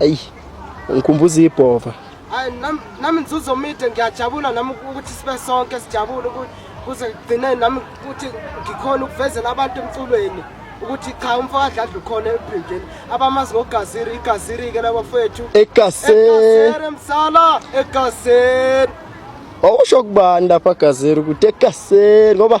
Ayi, ngikhumbuza ibhova. Hayi nam nami nzuzo mide ngiyajabula nami ukuthi sibe sonke sijabule kuze kugcine nami ukuthi ngikhona ukuvezela abantu emculweni ukuthi cha umfo adladla ukhona ebhindini abamazi ngogaziri igaziri ke labo fethu egaseri msala egaseri Awusho kubani lapha gazeri ukuthi egaseri ngoba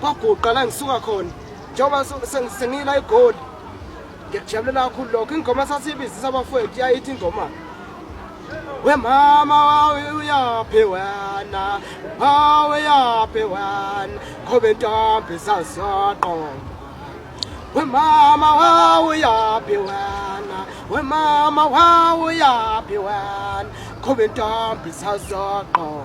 kwaguqa la ngisuka khona njengoba sengila igoli ngiyakujabulela kakhulu lokho ingoma sasiyibizisa abafowethu yayithi ingoma we mama wawe uyaphi wena wawe yaphi wena ngoba intombi sasiyaqoma we mama wawe uyaphi wena we mama wawe uyaphi wena ngoba intombi sasiyaqoma